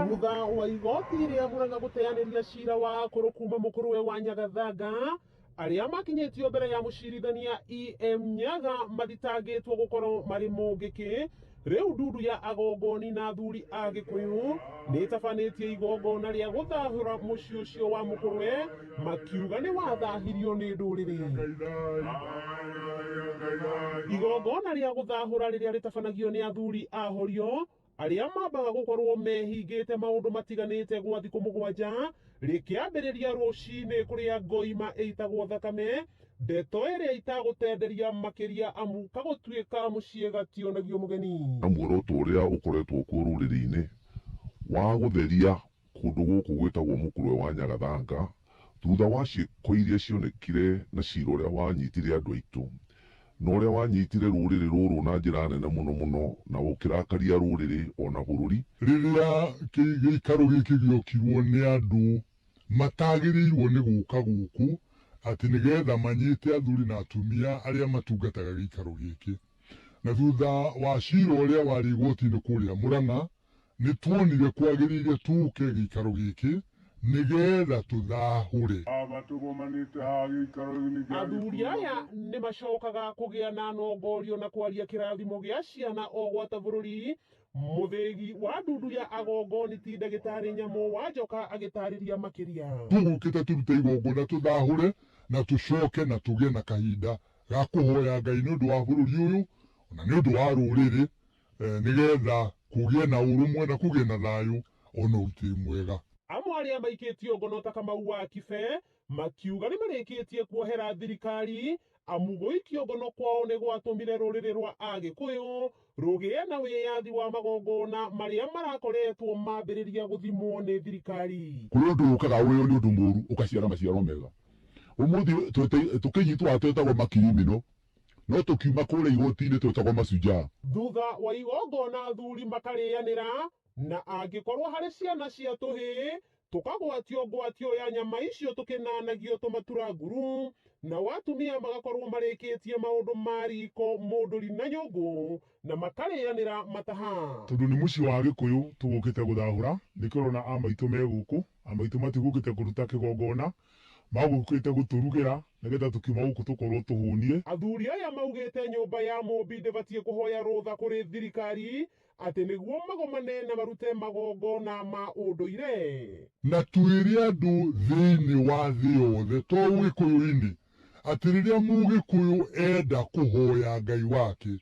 thutha wa igoti rĩa muranga gũteanĩria cira wa akũrũ kuma mũkũrũwe wa nyagathanga arĩa makinyĩtio mbere ya mũcirithania em nyaga mathitangĩtwo gũkorwo marĩ mũngĩkĩ rĩu ndundu ya agongoni na athuri a gĩkũyũ nĩtabanĩtie igongona rĩa gũthahũra mũciĩ ũcio wa mũkũrũwe makiuga nĩ wathahirio nĩ ndũrĩrĩ. Igongona rĩa gũthahũra rĩrĩa rĩtabanagio nĩ athuri a horio arĩa mambaga gũkorũo mehingĩte maũndũ matiganĩte gwa thikũ mũgwanja, rĩkĩambĩrĩria rũcinĩ kũrĩa ngoima ĩitagwo thakame, ndeto ĩrĩa itagũtenderia makĩria amu kagũtuĩka mũciĩ gationagio mũgeni. Muoroto ũrĩa ũkoretwo kuo rũrĩrĩ-inĩ wa gũtheria Kũndũ gũkũ gwĩtagwo Mũkũrwe wa Nyagathanga, thutha wa ciĩko iria cionekire na cira ũrĩa wanyitire andũ aitũ, na ũrĩa wanyitire rũrĩrĩ rũrũ na njĩra nene mũno mũno na gũkĩrakaria rũrĩrĩ o na bũrũri. Rĩrĩa gĩikaro gĩkĩ gĩokirwo nĩ andũ matagĩrĩirwo nĩ gũka gũkũ atĩ nĩgetha manyite athuri na atumia arĩa matungataga gĩikaro gĩkĩ. Na thutha wa cira ũrĩa warĩ igoti-inĩ kũrĩa Mũrang'a, nĩ tuonire kwagĩrĩire tũke gĩikaro gĩkĩ nĩ getha tũthahũre. Haha tũgomanĩte haha gĩikaro-inĩ gĩa Athuri aya Gĩthumo. nĩ macokaga kũgĩa na nongorio na kwaria kĩrathimo gĩa ciana o gwata bũrũri. Mũthĩgi wa ndundu ya Agongoni ti Ndagĩtarĩ Nyamũ wa Njoka agĩtarĩria makĩria. Tũgũkĩte tũrute igongona, tũthahũre na tũcoke na tũgĩe na kahinda ga kũhoya Ngai nĩ ũndũ wa bũrũri ũyũ na nĩ ũndũ wa rũrĩrĩ eh, nĩgetha kũgĩe na ũrũmwe na kũgĩe na thayũ ona ũrutĩri mwega. Amwe arĩa maikĩtio ngono ta Kamau wa Kibe makiuga nĩmarĩkĩtie kuohera thirikari amu gũikio ngono kwao nĩgwatũmire rũrĩrĩ rwa Agĩkũyũ rũgĩe na wĩyathi wa magongona marĩa marakoretwo mambĩrĩria gũthimwo nĩ thirikari. Kũrĩ ũndũ ũkaga ũrĩ o nĩ ũndũ mũũru ũkaciara maciaro mega. Ũmũthĩ tũkĩnyitwo haha twĩtagwo makirimino, no tũkiuma kũrĩa igoti-inĩ twĩtagwo mashujaa. Thutha wa igongona athuri makarĩanĩra, na angĩkorũo harĩ ciana cia tũhĩĩ, Tũkagwatio ngwatio ya nyama icio tũkĩnanagio tũmatura nguru, nao atumia magakorwo marĩkĩtie maũndũ ma riko, mũndũri na nyũngũ na makarĩanĩra mataha. Tondũ nĩ mũciĩ wa Agĩkũyũ tũgũkĩte gũthahũra, nĩkĩo ũrona a maitũ me gũkũ. A maitũ matigũkĩte kũruta kĩgongona, magũkĩte gũtũrugĩra nĩgetha tũkiuma gũkũ tũkorwo tũhũnie. Athuri aya maugĩte nyũmba ya Mũmbi ndĩbatiĩ kũhoya rũtha kũrĩ thirikari Atĩ nĩguo magomane na marute magongona ma ũndũire. Na twĩre andũ thĩinĩ wa thĩ yothe to Ũgĩkũyũ-inĩ atĩ rĩrĩa Mũgĩkũyũ enda kũhoya Ngai wake,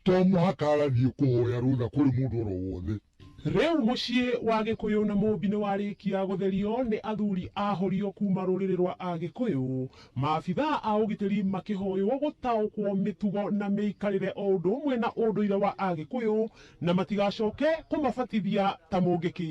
to mũhaka agathiĩ kũhoya rũtha kũrĩ mũndũ o ro wothe. Rĩu mũciĩ wa Gĩkũyũ na Mũmbi nĩ warĩkia gũtherio nĩ athuri a Horio kuuma rũrĩrĩ rwa Agĩkũyũ, Maabithaa a ũgitĩri makĩhoywo gũtaũkwo mĩtugo na mĩikarĩre o ũndũ ũmwe na ũndũire wa Agĩkũyũ na matigacoke kũmabatithia ta mũngĩkĩ.